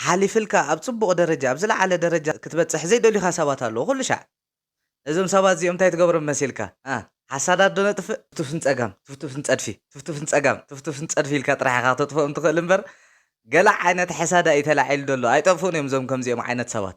ሓሊፍልካ ኣብ ጽቡቕ ደረጃ ኣብ ዝለዓለ ደረጃ ክትበጽሕ ዘይደልዩኻ ሰባት ኣለዉ ኩሉ ሻዕ ነዞም ሰባት እዚኦም እንታይ ትገብሮም መሲልካ ኣህ ሓሳዳት ዶ ነጥፍእ ትፍትፍን ጸጋም ትፍትፍን ጸድፊ ትፍትፍን ጸጋም ትፍትፍን ጸድፊ ኢልካ ጥራሕ ኢኻ ክተጥፍኦም ትኽእል እምበር ገለ ዓይነት ሕሳዳኢ ተላዒሉ ዶ ኣሎ ኣይጠፍኡን እዮም እዞም ከምዚኦም ዓይነት ሰባት።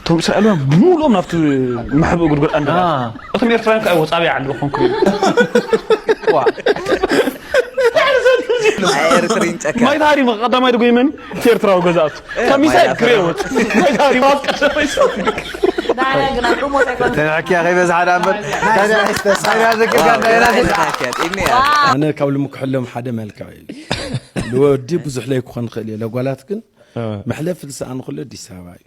እቶም እስራኤላውያን ብምሉኦም ናብቲ መሕብኢ ጉድጓድ ኣንደባ እቶም ኤርትራውያን ከዓ ወፃብያ ዓንደባ ኮንክሪት ማይ ታሪማ ቀዳማይ ድጎይመን እቲ ኤርትራዊ ገዛእቱ ካብ ሚሳኤል ክሬ ወፅ ማይ ታሪማ ኣብ ቀዳማይ ተንሕኪያ ከይበዝሓ ዳ እምበር ታንያ ዘክርካ ኣነ ካብ ልምክሐሎም ሓደ መልክዕ እዩ ንወዲ ብዙሕ ለይክኾን ይኽእል እየ ለጓላት ግን መሕለፊ ዝሰኣኑ ኩሉ ኣዲስ ኣበባ እዩ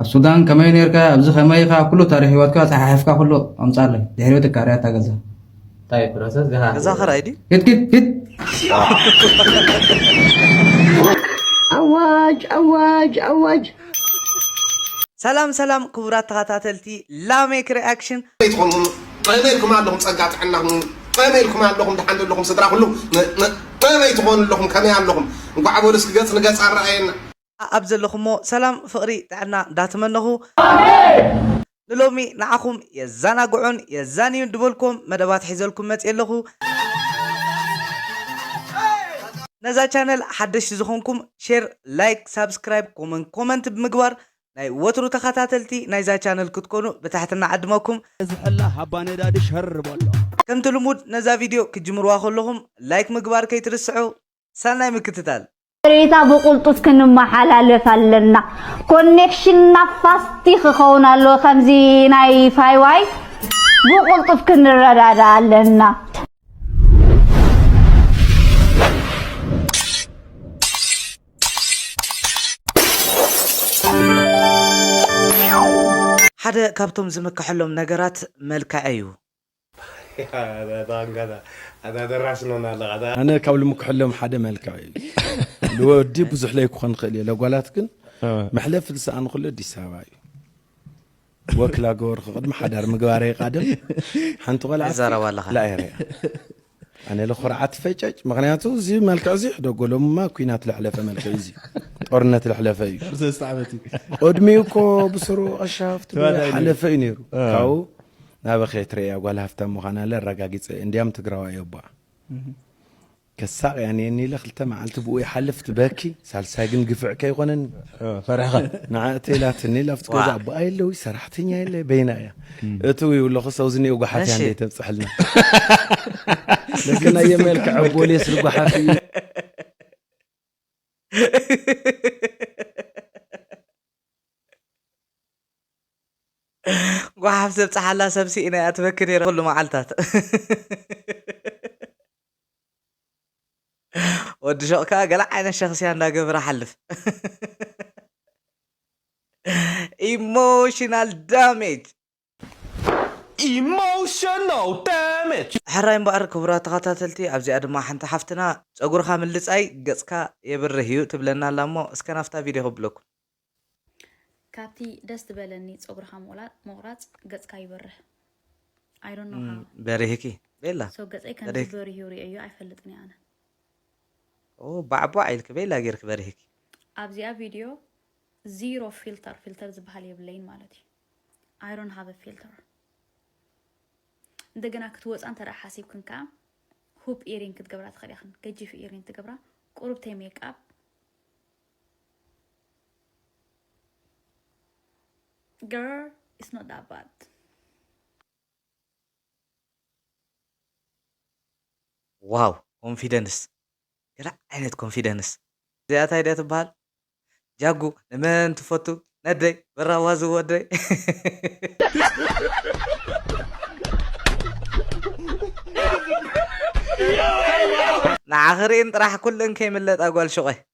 ኣብ ሱዳን ከመይ ነርካ ኣብዚ ከመይ ኢኻ ኩሉ ታሪኽ ሂወትካ ጸሓሒፍካ ኩሉ ኣምጻለይ ድሕሪኡ ትካረያ እታ ገዛ እንታይ ፕሮሰስ ገሃ ገዛ ክራይ ድዩ ኪድ ኪድ ኪድ ኣዋጅ ኣዋጅ ኣዋጅ ሰላም ሰላም ክቡራት ተኸታተልቲ ላሜክ ሪኣክሽን ይትኾኑ ጠመይ ኢልኩም ኣለኹም ፀጋ ጥዕና ጠመይ ኢልኩም ኣለኹም ድሓን ዘለኹም ስድራ ኩሉ ጠመይ ትኾኑ ኣለኹም ከመይ ኣለኹም እንኳዕ በሉ እስኪ ገፅ ንገፅ ኣረኣየና ኣኣብ ዘለኹሞ ሰላም ፍቅሪ ጥዕና ዳተመነኹ ንሎሚ ንዓኹም የዛናግዑን የዛንዩን ድበልኩዎም መደባት ሒዘልኩም መጽየ ኣለኹ ነዛ ቻነል ሓደሽቲ ዝኾንኩም ሼር ላይክ ሳብስክራይብ ኮመን ኮመንት ብምግባር ናይ ወትሩ ተኻታተልቲ ናይዛ ቻነል ክትኮኑ ብትሕትና ዕድመኩም ዝሕላ ሃባ ነዳዲ ሸር በሎ። ከምቲ ልሙድ ነዛ ቪድዮ ክትጅምርዋ ከለኹም ላይክ ምግባር ከይትርስዑ። ሰናይ ምክትታል። ሓበሬታ ብቕልጡፍ ክንመሓላለፍ ኣለና ኮኔክሽንና ፋስቲ ክኸውን ኣለዎ ከምዚ ናይ ፋይዋይ ብቕልጡፍ ክንረዳዳ ኣለና። ሓደ ካብቶም ዝምከሐሎም ነገራት መልክዐ'ዩ። ኣነ ካብ ልምክሐሎም ሓደ መልክዕ እዩ ልወዲ ብዙሕ ለይክኾን ይኽእል እየ ለጓላት ግን መሕለፊ ዝሰኣኑ ክሎ ኣዲስ ኣበባ እዩ ወክላ ገበርኩ ቅድሚ ሓዳር ምግባረይ ቃድም ሓንቲ ቆልዓ ላእያ ኣነ ልኹርዓት ፈጨጭ ምክንያቱ እዚ መልክዕ እዚ ሕደጎ ሎምማ ኩናት ለሕለፈ መልክዕ እዚ ጦርነት ለሕለፈ እዩ ቅድሚ እኮ ብስሩ ቀሻፍት ሓለፈ እዩ ነይሩ ካብኡ ናበኸ ትረያ ጓል ሃፍታ ምዃና ለ ኣረጋጊፀ እንዲያም ትግራዋ እዮባ ከሳቅ እያ ነየኒ ኢለ ክልተ መዓልቲ ብኡ ይሓልፍ ትበኪ ሳልሳይ ግን ግፍዕ ከይኮነኒ ፈሪሕኻ ንዓ እተይ ኢላትኒ ኣብቲ ገዛ ኣቦኣ የለ ወይ ሰራሕተኛ የለ በይና እያ እትው ይብለኹ ሰውዚ እኒኦ ጓሓፍ እያ እንደ ተብፅሐልና ለከና የመልክ ዕቦልየ ስል ጓሓፍ እዩ ጓሓፍ ዘብፅሓላ ሰብ ስኢና እያ ትበኪ ነይራ ኩሉ መዓልታት ወዲ ሸቕ ከዓ ገለ ዓይነት ሸኽስያ እንዳገበረ ሓልፍ ኢሞሽናል ዳሜጅ ኢሞሽናል ዳሜጅ ሕራይ እምበኣር ክቡራት ተኸታተልቲ ኣብዚኣ ድማ ሓንቲ ሓፍትና ጸጉርካ ምልጻይ ገጽካ የብርህ እዩ ትብለና ኣላ እሞ እስከ ናብታ ቪድዮ ከብለኩም። ካብቲ ደስ ዝበለኒ ጸጉርኻ ምቑላጥ ምቑራጽ ገጽካ ይበርህ I don't know እም፣ how በሪህኪ ቤላ so ገጸይ ከምዚ በሪህኪ በሪሁ ሪኤዮ ኣይፈልጥን እየ ኣነ ኦ ባዕቧዕ ኢልኪ ቤላ ጌርኪ በሪህኪ ኣብዚኣ ቪድዮ ዚሮ ፊልተር ፊልተር ዝበሃል የብለይን ማለት እዩ I don't have a filter እንደገና ክትወፃ እንተ ደኣ ሓሲብክን ከዓ ሁፕ ኢሪን ክትገብራ ትኽእል ኢኽን ገጂፍ ኢሪን ትገብራ ቁርብተይ ሜክኣፕ Girl, it's not that bad. ዋው ኮንፊደንስ ገለ ዓይነት ኮንፊደንስ እዚኣ እንታይ ድያ ትበሃል ጃጉ ንመን ትፈቱ ነደይ በራዋ ዝወደይ ንዓኺ ርእን ጥራሕ ኩለን ከይምለጣ ጓል ሹቐ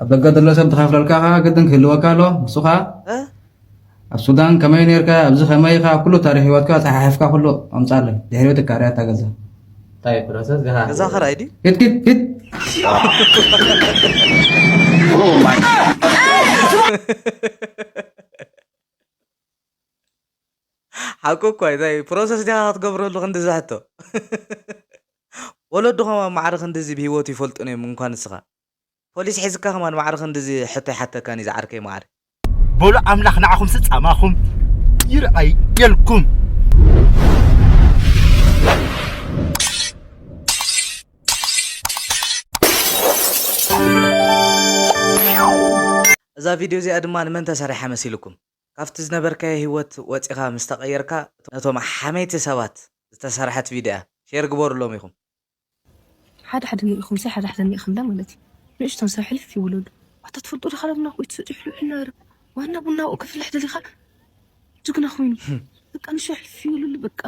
ኣብ ደገ ዘሎ ሰብ ዝኸፍለልካ ከኣ ግድን ክህልወካ ኣሎ ንሱ ከኣ ኣብ ሱዳን ከመይ ነርካ ኣብዚ ከመይ ኢኻ ኩሉ ታሪክ ህይወትካ ጸሓሕፍካ ኩሉ ኣምጻለይ ድሕሪኡ ትካርያ እታ ገዛ እንታይ ፕሮሰስ ገሃ ገዛ ክራይ ድዩ ኪድ ኪድ ኪድ ሓቁ እኳ እንታይ ፕሮሰስ ዲኻ ክትገብረሉ ክንዲ ዝሕቶ ወለድኹም ኣብ ማዕረ ክንድዚ ብሂወቱ ይፈልጡን እዮም እንኳን ንስኻ ፖሊስ ሒዝካ ከማን ማዕረ ክንድዚ ሕቶ ኣይሓተካን እዩ ዝዓርከይ ማዓር። በሉ ኣምላኽ ንዓኹምሲ ጻማኹም ይርኣየልኩም። እዛ ቪድዮ እዚኣ ድማ ንመን ተሰሪሓ መሲልኩም? ካብቲ ዝነበርካዮ ህይወት ወጺኻ ምስ ተቐየርካ ነቶም ሓመይቲ ሰባት ዝተሰርሐት ቪድዮ እያ። ሼር ግበሩሎም ኢኹም። ሓደ ሓደ ኒኢኹምሰ ሓደ ሓደ ኒኢኹምለ ማለት እዩ ንእሽቶን ሰብ ሕልፍ ይውለሉ ኣታ ትፈልጦ ዲኻ ለብና ቆይ ትሰጪ ሕልውሕል ናረ ዋና ቡና ኣብኡ ከፍልሕ ደሊኻ ጅግና ኮይኑ በቃ ንሱ ሕልፍ ይውለሉ በቃ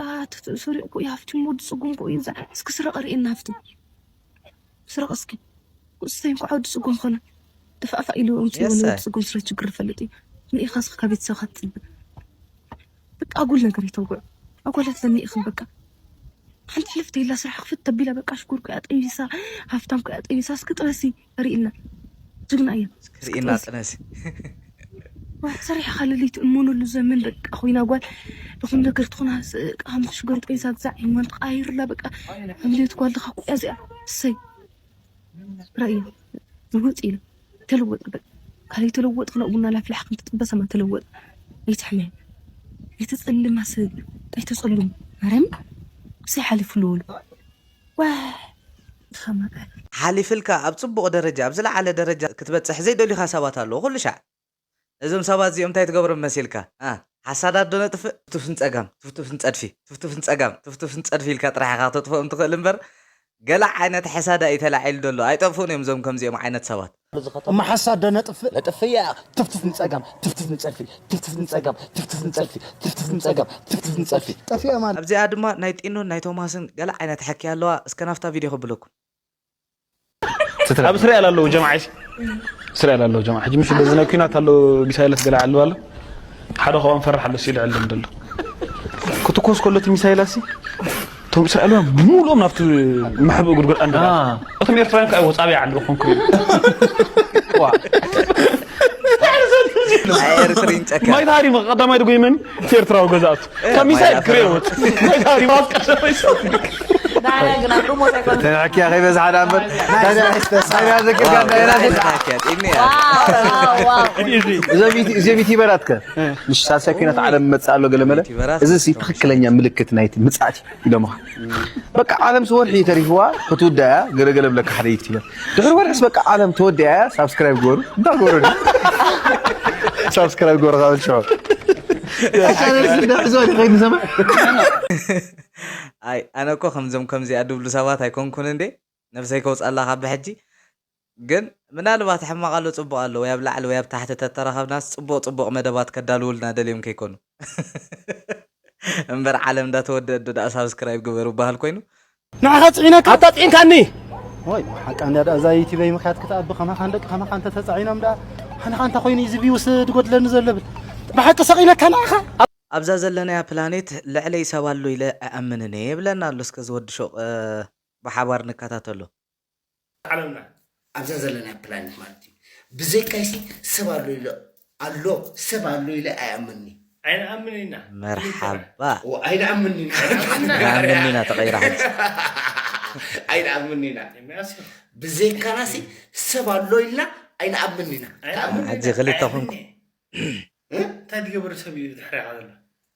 ሰሪቑ እኮ እዩ ሃፍቲሙ ወዲ ጽጉም እኮ እዩ እስኪ ስረቐ ርእየና ሃፍቲ ስረቐ እስኪ እሰይ እንኳዕ ወዲ ጽጉም ኮነ ድፋእፋእ ኢሉ ኣውጺእዎ ንወዲ ጽጉም ስረ ችግር ይፈልጥ እዩ ንኢኻስ ካብ ቤተሰብካ ትጽበ በቃ ኣጉል ነገር ይተውግዑ ኣጓላት ዘኒኢኽን በቃ ሓንቲ ሕልፍቲ የላ ስራሕ ክፍት ተቢላ በቃ ሽጉር ኩያ ጠቢሳ ሃፍታም ኩያ ጠቢሳ እስኪ ጥበሲ ርኢልና ጅግና እያ ርኢና ጥነሲ ሰሪሕኻ ለለይቲ እመነሉ ዘመን በቃ ኮይና ጓል ብኹም ነገር ትኾና ሃምቲ ሽጉር ጠቢሳ ግዛዕ እማን ተቃይርላ በቃ ሓምልዮት ጓል ድኻ ኩያ እዚኣ እሰይ ርእዩ ልውጥ ኢሉ ተለወጠ በቃ ካለይ ተለወጥ ክነኡ ቡና ላፍላሕ ክም ትጥበሰማ ተለወጠ ኣይትሕመ ኣይተጸልማ ሰብ ኣይተጸልሙ ማርያም ብሰይ ሓሊፉ ልወሉ ዋ ድኸማ ቃል ሓሊፍልካ ኣብ ጽቡቕ ደረጃ ኣብ ዝለዓለ ደረጃ ክትበጽሕ ዘይደልዩኻ ሰባት ኣለዉ ኩሉ ሻዕ ነዞም ሰባት እዚኦም እንታይ ትገብሮም መሲልካ እ ሓሳዳት ዶ ነጥፍእ ትፍቱፍ ንጸጋም ትፍቱፍ ንጸድፊ ትፍቱፍ ንጸጋም ትፍቱፍ ንጸድፊ ኢልካ ጥራሕ ኢኻ ክተጥፍኦም ትኽእል እምበር ገለ ዓይነት ሓሳድ ኣዩ ተላዒሉ ደሎ ኣይጠፍኡን እዮም እዞም ከምዚኦም ዓይነት ሰባት። እሞ ሓሳድ ዶ ነጥፍእ ነጥፍእ ያኣኽ ትፍቱፍ ንጸጋም ትፍቱፍ ንጸድፊ ትፍቱፍ ንጸጋም ትፍቱፍ ንጸድፊ ትፍቱፍ ንጸጋም ትፍቱፍ ንጸድፊ ጠፊኦም ኣለዉ። ኣብዚኣ ድማ ናይ ጢኖን ናይ ቶማስን ገለ ዓይነት ሕኪ ኣለዋ እስከ ናብታ ቪድዮ ከብለኩም። ኣብ እስራኤል ኣለዉ ጀምዓ ሲ እስራኤል ኣለዉ ጀምዓ ሕጂ ምስ በዚ ናይ ኩናት ኣሎ ሚሳይላት ገለ ዓልብ ኣሎ ሓደ ካብኦም ፈራሕ ኣሎ ሲሉ ዕልም ደሎ ክትኮስ ከሎ እቲ ሚሳይላት ሲ እቶም እስራኤላውያን ሙሉኦም ናብቲ መሕብእ ጉድጉድ ኣንዳ እቶም ኤርትራውያን ከዓ ወፃቢ ዓሉ ኹም ክብል ማይ ታሪም ቀዳማይ ድጎይመን እቲ ኤርትራዊ ገዛእቱ ከሚሳይ ግሬዎት ተንዕኪያ ከይበዝሓ ዳ እምበር ናይና ዘኪርካ እዞም ዩቲበራት ከ ምስ ሳልሳይ ኩናት ዓለም መፅእ ኣሎ ገለመለ እዚ ትኽክለኛ ምልክት ናይቲ ምፅኣት እዩ ደምኻ በቃ ዓለምስ ወርሒ ተሪፍዋ ክትውዳእ እያ ገለ ገለ ብለካ ሓደ ዩቲበር ድሕሪ ወርሒስ በቃ ዓለም ተወዲኣ እያ ሳብስክራይብ ግበሩ እንዳ ግበሩ ሳብስክራይብ ግበሩ ካብ ሽዑ ኣይ ኣነ እኮ ከምዞም ከምዚኣ ድብሉ ሰባት ኣይኮንኩን እንዴ ነብሰይ ከውጽኣላ ካብ ብሕጂ ግን ምናልባት ሕማቅ ኣሎ ጽቡቅ ኣሎ ወይ ኣብ ላዕሊ ወይ ኣብ ታሕቲ ተተራከብናስ ጽቡቅ ጽቡቅ መደባት ከዳልውልና ደልዮም ከይኮኑ እምበር ዓለም እንዳ ተወደእት ዶ ደኣ ሳብስክራይብ ግበሩ በሃል ኮይኑ ንዓኻ ጽዒነካ ኣታ ጽዒንካኒ ዋይ ሓቃ እንዳ ደኣ እዛ ዩቲበይ ምክያት ክትኣቢ ከማኻን ደቂ ከማኻ እንተ ተጻዒኖም ደኣ ኣነኻ እንታ ኮይኑ እዚ ቪውስ ድጎድለኒ ዘሎ ብል ብሓቂ ሰቂነካ ንዓኻ ኣብዛ ዘለናያ ፕላኔት ልዕለይ ሰብ ኣሎ ኢለ ኣይኣምንን እየ ይብለና ኣሎ እስከ ዝወዲ ሹቕ ብሓባር ንከታተሎ። ዓለምና ኣብዛ ዘለና ፕላኔት ማለት እዩ ብዘይካይሲ ሰብ ኣሎ ኢለ ኣሎ ሰብ ኣሎ ኢለ ኣይኣምንን'የ። ኣይንኣምን ኢና መርሓባ እወ ኣይንኣምን ኢና ንኣምን ኢና ተቐይራ ሕጂ ኣይንኣምን ኢና ኤርምያስ እዩ ብዘይካናሲ ሰብ ኣሎ ኢልና ኣይንኣምን ኢና ኣይንኣምን ኢና ሕጂ ክልተ ኣይንኣምን ኮንኩ እየ እንታይ ትገብር ሰብ እዩ ድሕሪኻ ዘሎ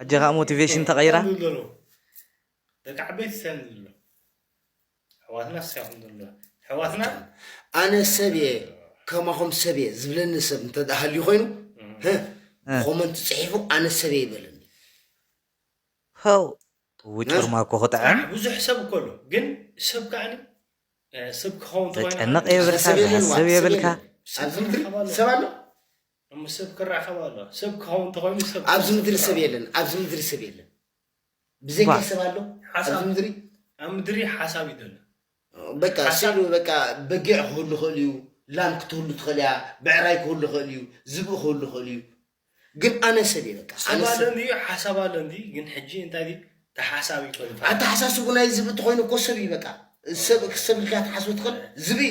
ሕጂ ከኣ ሞቲቬሽን ተቀይራ። ሰንድ ዘሎ ደቂ ዓበይቲ ሰንድ ዘሎ ኣሕዋትና ስሻኹም ዘሎ ኣሕዋትና ኣነ ሰብ እየ ከማኹም ሰብ እየ ዝብለኒ ሰብ እንተ ሃልዩ ኮይኑ ኮመንት ጽሒፉ ኣነ ሰብ እየ ይበለኒ ኸው ውጭርማ እኮ ክጥዕም ብዙሕ ሰብ እኮ ኣሎ ግን ሰብ ከዓኒ ሰብ ክኸውን ተጨነቕ የብልካ ዝሓስብ የብልካ ኣብዚ ምድሪ ሰብ ኣሎ እሞ ሰብ ክራኸብ ኣሎ ሰብ ክኸውን ተኾይኑ ሰብ ኣብዚ ምድሪ ሰብ የለን ኣብዚ ምድሪ ሰብ የለን ብዘይካ ሰብ ኣሎ ኣብዚ ምድሪ ኣብ ምድሪ ሓሳብ እዩ ዘሎ በቃ ስሉ በቃ በጊዕ ክህሉ ክእል እዩ ላም ክትህሉ ትኽእል እያ ብዕራይ ክህሉ ክእል እዩ ዝብኢ ክህሉ ክእል እዩ ግን ኣነ ሰብ እየ በቃ ሰብ ኣሎ እንዲ ሓሳብ ኣሎ እንዲ ግን ሕጂ እንታይ እዩ ተሓሳቢ ኮይኑ ኣተሓሳስቡ ናይ ዝብኢ ተኮይኑ እኮ ሰብ እዩ በቃ ሰብ ሰብ ኢልካ ትሓስቡ ትኽእል ዝብኢ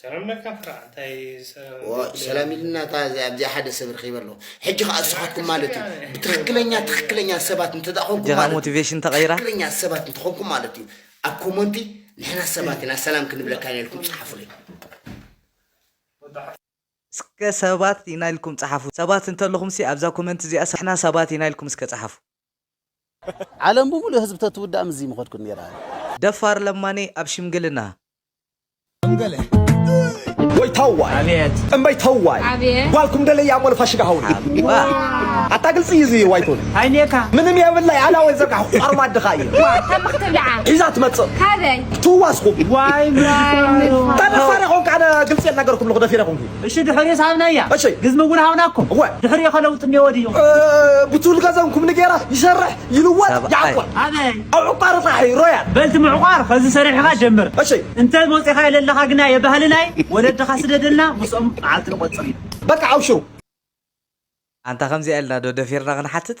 ሰላም ለካ ፍራ እንታይ ሰላም ኢልና እታ ኣብዚኣ ሓደ ሰብ ረኺበ ኣለኹ ሕጂ ከዓ ንስኻትኩም ማለት እዩ ብትኽክለኛ ትኽክለኛ ሰባት እንተደኣኾንኩም ማለት ሞቲቬሽን ተቐይራ ትኽክለኛ ሰባት እንተኾንኩም ማለት እዩ ኣብ ኮመንቲ ንሕና ሰባት ኢና ሰላም ክንብለካ ኢና ኢልኩም ፀሓፉለይ እስከ ሰባት ኢና ኢልኩም ፀሓፉ ሰባት እንተለኹምሲ ኣብዛ ኮመንት እዚኣ ንሕና ሰባት ኢና ኢልኩም እስከ ፀሓፉ ዓለም ብሙሉእ ህዝቢ ተትውዳእ ምስዚ ምኸድኩን ኔራ። ደፋር ለማኒ ኣብ ሽምግልና። ወይ ተዋይ እምበይ ተዋይ ጓልኩም ደለይ ኣሞ ንፋሽጋ ሃውኒ ኣታ ግልፂ እዩ እዚ ዋይቶን ኣይኔካ ምንም የብላይ ኣላወይ ዘርጋሕኩ ኣርማ ኣድኻ እዩ ሒዛ ትመፅእ ትዋስኹም ተደፋሪ ኮንካ ኣነ ግልፂ የናገርኩም ኣለኹ ደፊረ ኮንኩ እሺ ድሕሪኡስ ሃብናያ እሺ። ግዝሚ እውን ሃብና እኮ እወ። ድሕሪኡ ከ ለውጢ እኒኦ ድዩ እ፣ ብቱል ገዘን ኩምኒ ገይራ ይሰርሕ ይልወጥ ሰብኣይ። ይዓቆር ኣበይ ኣብ ዕቋር ጥራሕ ሮያል በልቲ ምዕቋር ከዚ ሰሪሕኻ ጀምር እሺ። እንተ ወፂኻ የለለኻ ግና የባህሊ ናይ ወለድኻ ስደደልና ምስኦም መዓልቲ ንቆፅር ኢና በቃ ኣብሽሩ ኣንታ ከምዚኣ ኢልና ዶ ደፊርና ክንሓትት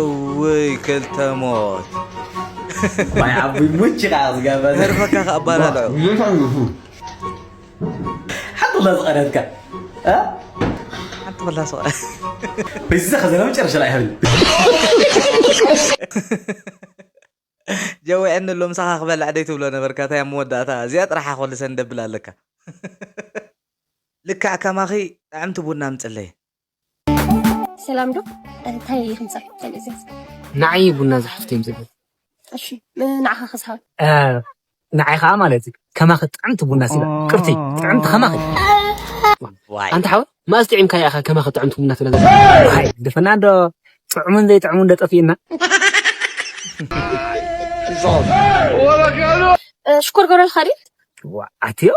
እውይ ክልተ ሞት ማይ ዓቡይ ሙች ከዓ ዝገበ ተርፈካ ከኣባላልዑ ሓንቲ ላ ዝቐረትካ ሓንቲ ላ ዝቐረ በዛ ከዘና መጨረሻ ላይ ይኸብል ጀዊዐኒ ኣሎ ምሳኻ ክበልዕ ደይ ትብሎ ነበርካ እንታይ ኣብ መወዳእታ እዚኣ ጥራሓ ኮልሰን ደብል ኣለካ ልክዕ ከማኺ ጥዕምቲ ቡና ምፅለይ ሰላም ዶ እንታይ ይምፃእ ተልእዘዝ ንዓይ ቡና ዝሓፍተ ይምፅእ እሺ ንዓኻ ክስሃብ ንዓይ ከዓ ማለት እዩ ከማኺ ጥዕምቲ ቡና ሲላ ቅርቲ ጥዕምቲ ከማኺ ኣንታ ሓወ ማእስ ጥዒምካ ኢኻ ከማኺ ጥዕምቲ ቡና ትብለ ዘ ደፈና ዶ ጥዕሙን ዘይጥዕሙን ዶ ጠፊእና ሽኮር ገብረልካ ድዩ ኣትዮ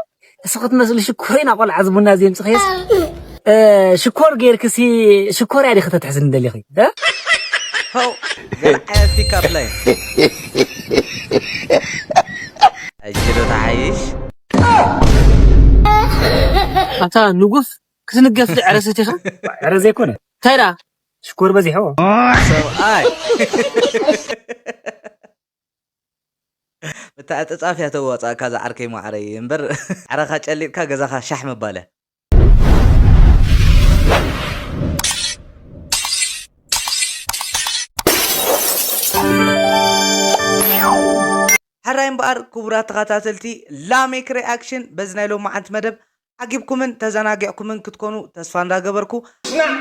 እሱ ክትመስሉ ሽኮሪና ቆልዓ ዝቡና ዘምፅኸየስ ሽኮር ጌርክሲ ሽኮር ያዲ ከተትሕዝኒ ደሊኺ ኣታ ንጉስ ክትንገፍ ዕረሰት ኢኻ ዕረ ዘይኮነ እንታይ ደኣ ሽኮር በዚሕዎ ሰብኣይ ምትዕጽጻፍ እያ ተዋጻኣካ ዝዓርከይ ማዓረይ እምበር ዓረኻ ጨሊጥካ ገዛኻ ሻሕ ምባል እያ። ሕራይ እምበኣር ክቡራት ተኸታተልቲ ላሜክ ሪኣክሽን በዚ ናይ ሎምዓንቲ መደብ ዓጊብኩምን ተዘናጊዕኩምን ክትኮኑ ተስፋ እንዳገበርኩ። ሽናዕ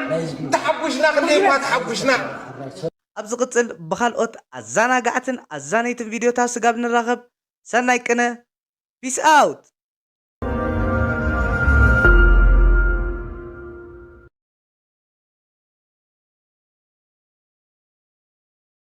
ተሓጉሽና ክንደይ እኳ ተሓጉሽና። ኣብ ዝቅጽል ብካልኦት ኣዛናጋዕትን ኣዛነይትን ቪድዮታት ስጋብ ንራኸብ ሰናይ ቅነ Peace out!